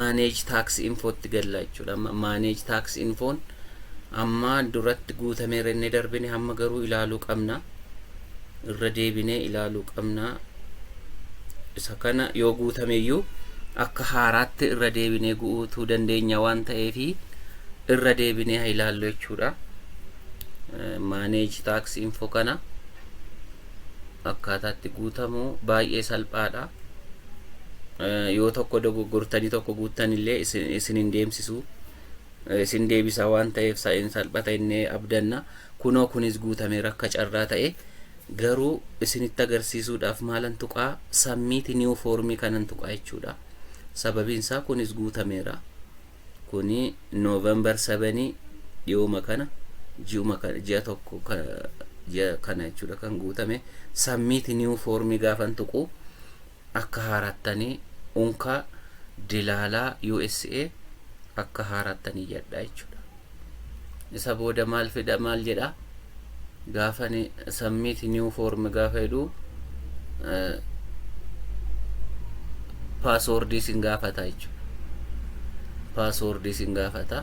manage tax info itti galla jechuudha amma manage tax infoon amma duratti guutame irra inni darbine hamma garuu ilaaluu qabna irra deebinee ilaaluu qabna isa kana yoo guutame iyyuu akka haaraatti irra deebinee guutuu dandeenya waan ta'eef irra deebinee haa ilaallu jechuudha manage tax info kana akkaataa itti guutamu baay'ee salphaadha. Yoo tokko dogoggortanii tokko guuttan illee isin hin deemsisu. Isin deebisa waan ta'eef sa'in salphata inni abdanna. Kunoo kunis guutame rakka carraa ta'e. Garuu isinitti agarsiisuudhaaf maalan tuqaa sammiiti niiw foormii kanan tuqaa jechuudha. Sababiin isaa kunis guutameera. Kuni November sevenii dhiyooma kana ji'uma kana ji'a tokko ka- ji'a kana jechuudha kan guutame submit new form gaafan tuqu akka haarattanii unka dilaalaa USA akka haarattanii yadhaa jechuudha. isa booda maal fida maal jedha gaafani submit new form gaafa jedhu paaswoordii isin gaafata jechuudha paaswoordii isin gaafata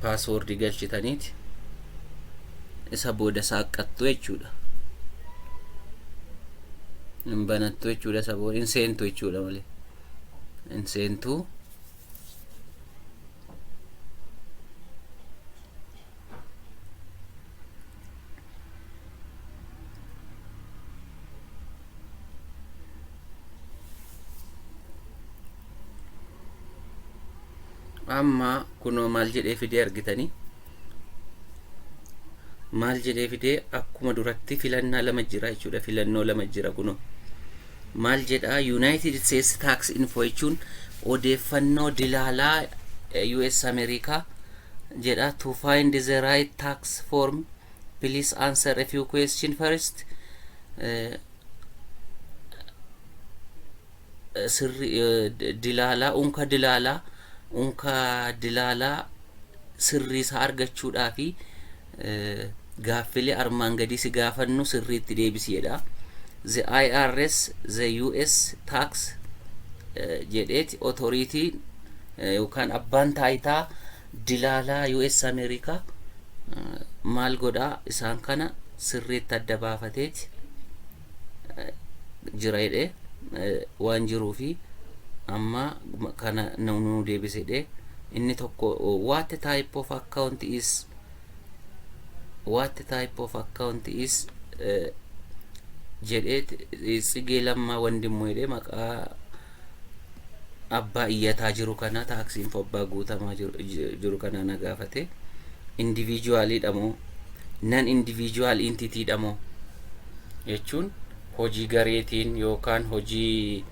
paaswoordii galchitaniiti isa booda saaqqattu jechuudha hin banattu jechuudha isa booda hin seentu jechuudha malee hin seentu amma kunoo maal jedhee fidee argitanii maal jedhee fidee akkuma duratti filannaa lama jira jechuudha filannoo lama jira kunoo maal jedha yuunaayitid isteetsi taaks info jechuun odeeffannoo dilaalaa us ameerikaa jedha to find the right tax form please answer a few question first uh, sirri dilaalaa unka dilaalaa unka dilaalaa sirrii isaa argachuudhaa fi gaaffilee armaan gadii si gaafannu sirriitti deebisi jedha. The IRS, the US tax jedheeti otoriitii yookaan abbaan taayitaa dilaalaa US Ameerikaa maal godhaa isaan kana sirriitti adda baafateeti. jira jedhe waan jiruu fi amma kana nu deebise jedhe inni tokko what type of account is what type of account is jedhee tsigee lammaa wandimmu jedhee maqaa abbaa iyyataa jiru kanaa taaksii info abbaa guutamaa jiru, j- jiru kanaa na gaafate indiviijuwaaliidha moo nan indiviijuwaal intitiidha moo jechuun hojii gareetiin yookaan hojii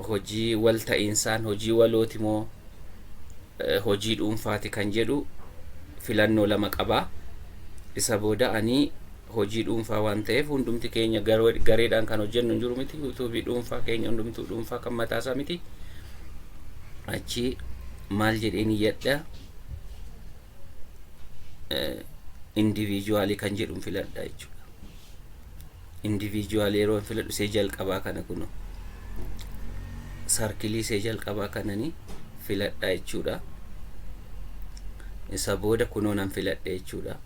hojii wal ta'iinsaan hojii walooti moo eh, hojii dhuunfaati kan jedhu filannoo lama qabaa isa booda ani hojii dhuunfaa waan ta'eef hundumti keenya gareedhaan kan hojjennu hin jiru miti yuutuubii dhuunfaa keenya hundumtuu dhuunfaa kan mataasaa miti achi maal jedheen iyyadha indiviijuwaalii kan jedhu filadha jechuudha indiviijuwaalii yeroo filadhu see jalqabaa kana kunoo sarkilii see jalqabaa kananii filadha jechuudha isa booda kunoo nan filadha jechuudha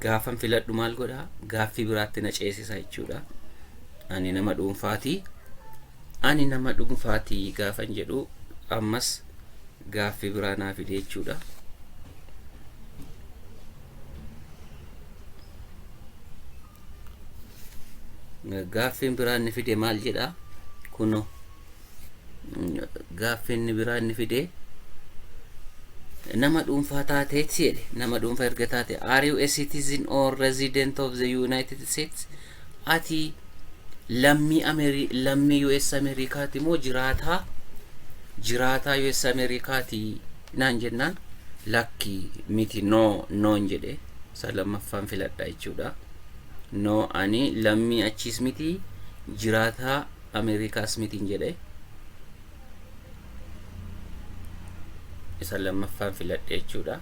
gaafan filadhu maal godha gaaffii biraatti na ceesisa jechuudha. Ani nama dhuunfaati. Ani nama dhuunfaati gaafan jedhu ammas gaaffii biraa naa fide jechuudha. Gaaffiin biraa inni fide maal jedha? Kunoo. Gaaffi inni biraa inni fide nama dhuunfaa taateetti jedhe nama dhuunfaa erga taate are you a citizen or resident of the United States ati lammii Ameri lammii US Ameerikaati moo jiraataa jiraataa US Ameerikaati naan jennaan lakki miti no noon jedhe isa lammaffaan filadha jechuudha no ani lammii achiis miti jiraataa Ameerikaa Smitiin jedhe isa lammaffaan filadhe jechuudha.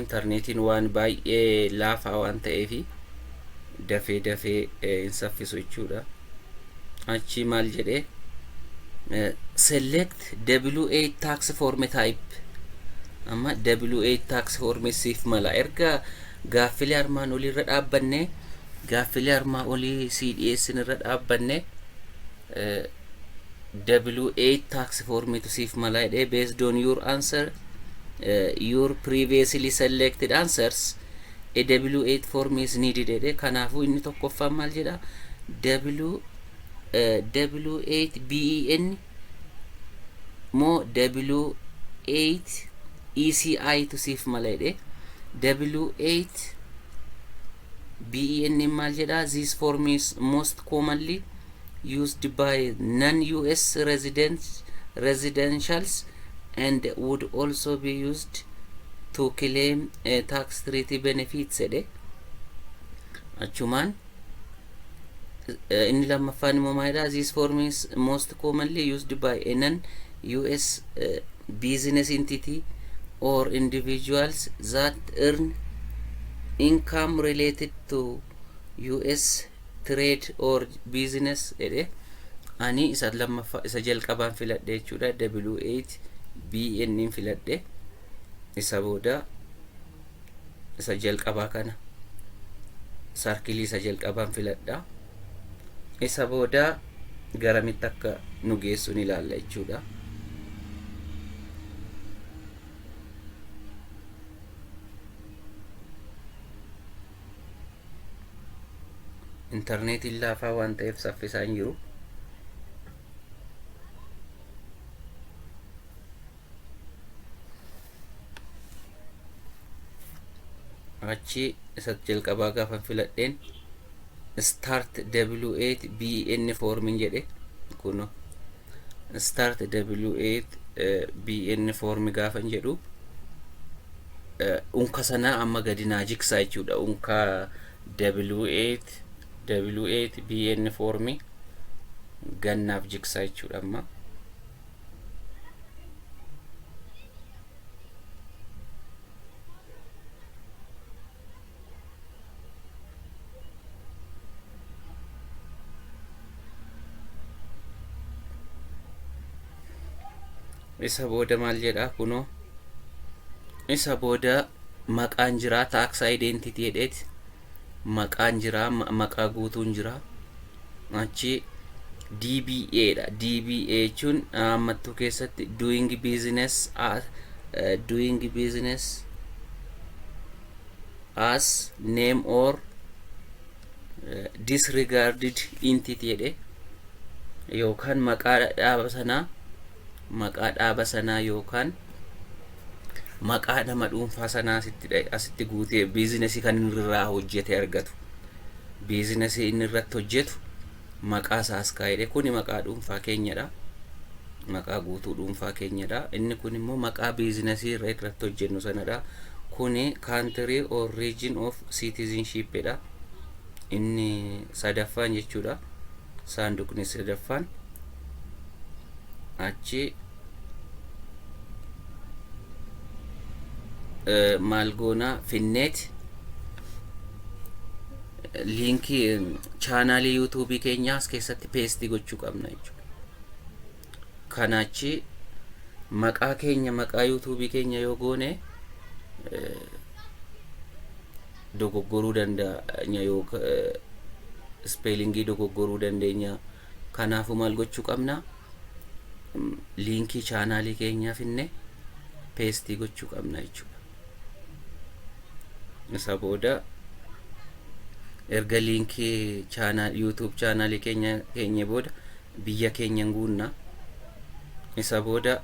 Intarneetiin waan baay'ee laafaa waan ta'eef dafee dafee hin saffisu jechuudha. Achii maal jedhe select W8 tax form type amma W8 tax form siif mala erga Gaaffilee armaan olii irra dhaabbanne Gaaffilee armaa olii sii dhiyeessin irra dhaabbanne W8 tax form tu siif mala jedhee based on your answer eh, your previously selected answers a W8 form is needed jedhee kanaafuu inni tokkoffaan maal jedha W eh, W8 BEN moo W8 ECI tu siif mala jedhee W8 BEN maal jedhaa this form is most commonly used by non-US resident residentials and would also be used to claim uh, tax treaty benefits jedhe achumaan eh, inni lammaffaan immoo maalidha this form is most commonly used by a non US eh, business entity or individuals that earn income related to US trade or business jedhe ani isa lammaffaa isa jalqabaan filadhe jechuudha W8 BN filadhe isa booda isa jalqabaa kana sarkilii isa jalqabaan filadha isa booda garamitti akka nu geessuun ilaalla jechuudha intarneetiin laafaa waan ta'eef saffisaa hin jiru achi isa jalqabaa gaafan filadheen start w8 bn formin jedhe kuno start w8 bn formi gaafan jedhu unka sanaa amma gadi naa jigsaa jechuudha unka w8 w8 bn formi gannaaf jigsaa jechuudha amma isa booda maal jedha kunoo isa booda maqaan jira taaksaa identity jedheeti maqaan jira maqaa guutuun jira achi DBA dha DBA jechuun ammattuu keessatti doing business as eh, doing business as name or eh, disregarded entity jedhe yookaan maqaa dhaaba sanaa maqaa dhaaba sanaa yookaan maqaa nama dhuunfaa sanaa asitti dha- asitti guutee biizinasii kan inni irraa hojjete argatu biizinasii inni irratti hojjetu maqaa isaa as kaa'edha kuni maqaa dhuunfaa keenyadha maqaa guutuu dhuunfaa keenyadha inni kun immoo maqaa biizinasii irra irratti hojjennu sanadha kuni kaantirii or region of citizenship dha inni sadaffaan jechuudha saanduqni sadaffaan achi eh, maal goona finneet liinkii eh, chaanaalii yuutuubii keenyaa as keessatti peestii gochuu qabna jechuudha. Kana achi maqaa keenya maqaa yuutuubii keenya yoo goone eh, dogoggoruu danda'a yoo eh, ispeelingii dogoggoruu dandeenya Kanaafuu maal gochuu qabna? Liinkii chaanaalii keenyaa finne peestii gochuu qabna jechuudha. Isa booda erga liinkii chaanaal YouTube chaanaalii keenya keenye booda biyya keenya guunna. Isa booda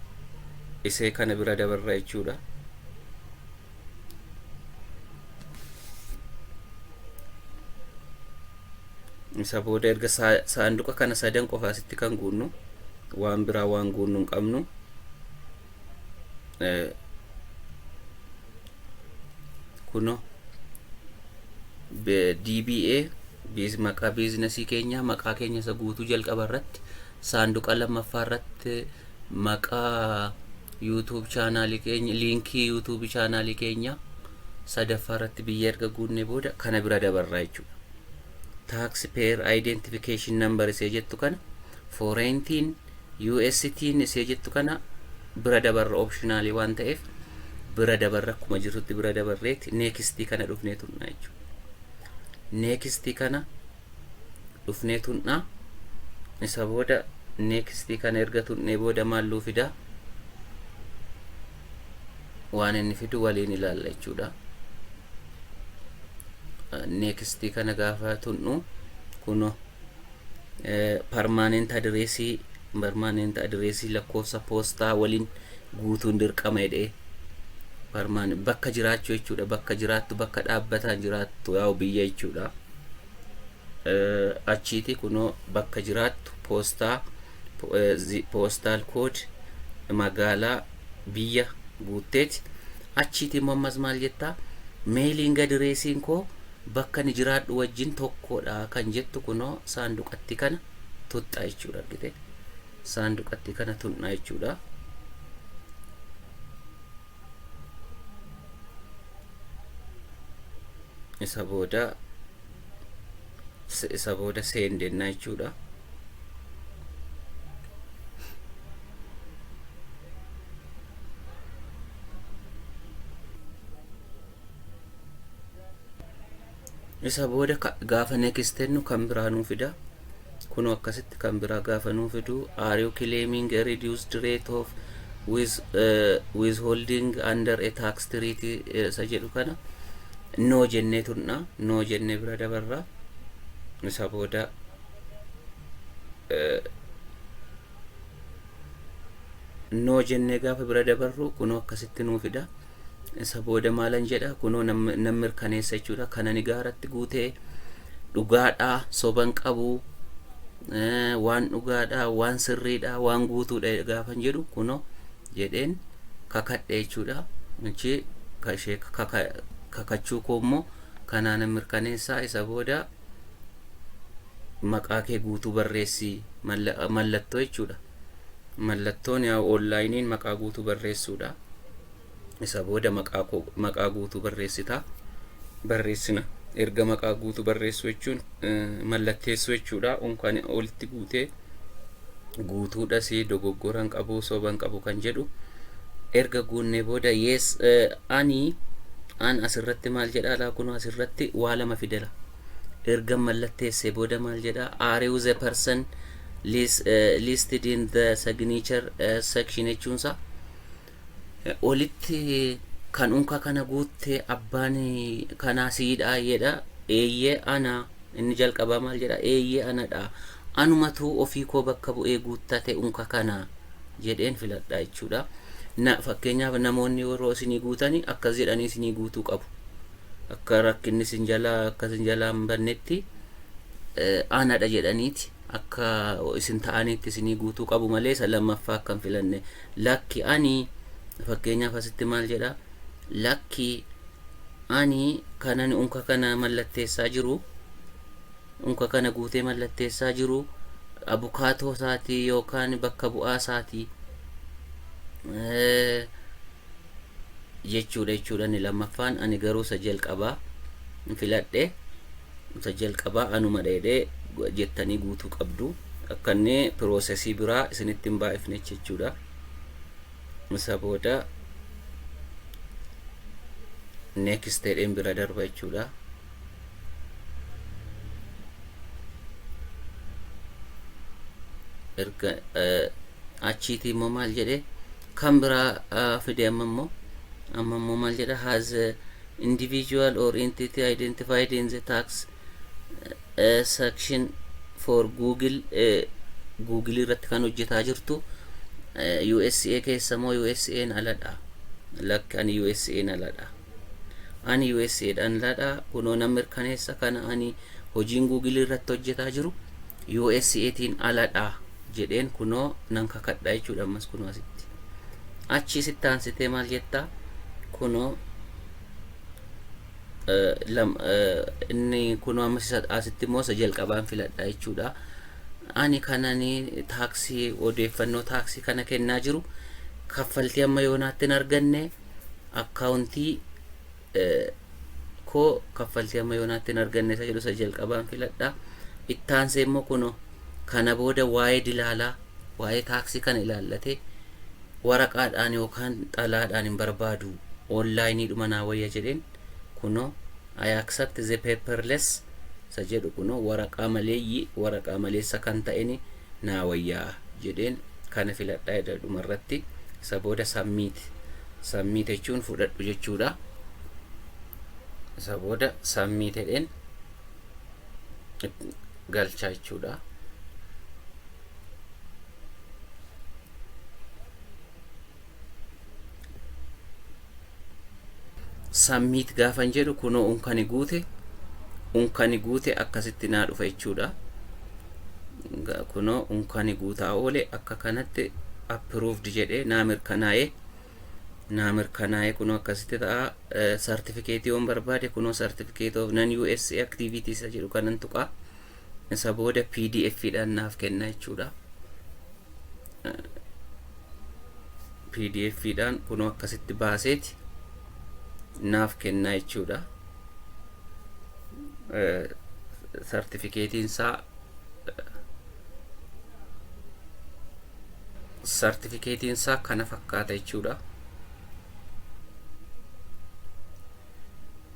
isee kana bira dabarra jechuudha. isa booda erga saanduqa kana sadan qofa asitti kan guunnu waan biraa waan guunnu hin qabnu kuno DBA biiz maqaa biiznasii keenya maqaa keenya isa guutuu jalqaba irratti saanduqa lammaffaa irratti Maqaa YouTube channel keenya liinkii YouTube channel keenya sadaffaa irratti biyya erga guunnee booda kana bira dabarraa jechuudha. Tax payer identification number isee jettu kana foreign tin US tin isee jettu kana bira dabarra optionaalii waan ta'eef bira dabarra akkuma jirtutti bira dabarreeti neekistii kana dhufnee tunnaa jechuudha. Neekistii kana dhufnee tunna isa booda next kana erga tunnee booda maal nuu fida waan inni fidu waliin ilaalla jechuudha next kana gaafa tunnu kuno permanent addressii permanent addressii lakkoofsa poostaa waliin guutuun dirqama jedhee barmaan bakka jiraachuu jechuudha bakka jiraattu bakka dhaabbataan jiraattu yaa'u biyya jechuudha achiiti kunoo bakka jiraattu poostaa poostaal kood magaalaa biyya guutteeti achiiti immoo ammas maal jettaa meeliin gadireesiin koo bakka ni jiraadhu wajjin tokkodha kan jettu kunoo saanduqatti kana tuxxa jechuudha argite saanduqatti kana tuqna jechuudha. Isa booda isa booda seendenna jechuudha. Isa booda gaafa next tennu kan biraa nuu fida. Kunoo akkasitti kan biraa gaafa nuu fidu are you claiming a reduced rate of with, uh, withholding under a tax treaty eh, isa jedhu kana no jennee tunna no jennee bira dabarra isa booda eh, no jennee gaafa bira dabarru kunoo akkasitti nuu fida. Isa booda maalan jedha? Kunoo nan nan mirkaneessa jechuudha. Kan ani gaaratti guute dhugaadha, soba hin qabu, eh, waan dhugaadha, waan sirriidha, waan guutuudha gaafan jedhu kunoo jedheen kakadhe jechuudha. Achi ka ishee kaka- kakachuu koo immoo kanaa nan mirkaneessa. Isa booda maqaa kee guutuu barreessi malla- mallattoo jechuudha. Mallattoon yaa'u onlaayiniin maqaa guutuu barreessuudha. Isa booda maqaa koo maqaa guutuu barreessita. Barreessina. Erga maqaa guutuu barreessuu jechuun eh, mallatteessuu jechuudha. Unkaan olitti guutee guutuudhas dogoggoran qabu soban qabu kan jedhu erga guunnee booda yes eh, ani an asirratti maal jedha laa kun asirratti waa lama fidela erga mallatteessee booda maal jedha are you the person listed in the signature section jechuunsa olitti kan unka kana guutte abbaan kanaa siidha jedha eeyyee ana inni jalqabaa maal jedha eeyyee anadha anumatu ofii koo bakka bu'ee guuttate unka kana jedheen filadha jechuudha. Fakkeenyaaf namoonni yeroo isinii guutanii akkas jedhanii isinii guutuu qabu. akka rakkinni sin jalaa akka sin jalaa hin bannetti aanadha jedhaniiti akka isin ta'aniitti isinii guutuu qabu malee isa lammaffaa akka hin filanne lakki ani fakkeenyaaf asitti maal jedha lakki ani kanan unka kana mallatteessaa jiru unka kana guutee mallatteessaa jiru abukaatoo isaatii yookaan bakka bu'aa isaatii jechuudha jechuudha inni lammaffaan ani garuu isa jalqabaa hin filadhe isa jalqabaa anuma dheedhee jettanii guutuu qabdu akka inni piroosesii biraa isinitti hin baay'ifne jechuudha isa booda next jedheen bira darba jechuudha erga achiitii immoo maal jedhee kan biraa fide amma immoo amma immoo maal jedha has a individual or entity identified in the tax uh, section for google uh, google irratti kan hojjetaa jirtu uh, usa keessa moo usa'n aladha lakkan usa'n aladha Ani usa dhan ladha kunoo nan mirkaneessa kana ani hojiin google irratti hojjetaa jiru usa tiin aladha jedheen kunoo nan kakadha jechuudha ammas kunoo asitti achii sitti aansitee maal jettaa kunoo inni kunoo ammas isa asitti immoo isa jalqabaan filadha jechuudha ani kanani taaksii odeeffannoo taaksii kana kennaa jiru kaffaltii amma yoonaatti hin arganne akkaawuntii koo kaffaltii amma yoonaatti hin arganne isa jedhu isa jalqabaan filadha. Itti aansee immoo kuno kana booda waa'ee dilaalaa waa'ee taaksii kana ilaallatee waraqaadhaan yookaan xalaadhaan hin barbaadu onlaayiniidhuma naa wayya jedheen kuno I accept the paperless isa jedhu kunoo waraqaa maleeyyii waraqaa maleessa kan ta'eni naa wayyaa jedheen kana filadhaa jedha dhuma irratti isa booda submit submit jechuun fudhadhu jechuudha isa booda submit jedheen galchaa jechuudha. submit gaafan jedhu kunoo unkani guute unkani guute akkasitti naa dhufa jechuudha Ga- kunoo unkani guutaa oole akka kanatti approved jedhee naa mirkanaa'ee naa mirkanaa'ee kunoo akkasitti ta'a sartifikeetii yoon barbaade kunoo sartifikeet of nan us activities jedhu kanan tuqaa Isa booda pdf dhaan naaf kenna jechuudha. pdf dhaan kunoo akkasitti baaseeti naaf kenna jechuudha. Sartifikeetiin isaa sartifikeetiin isaa kana fakkaata jechuudha.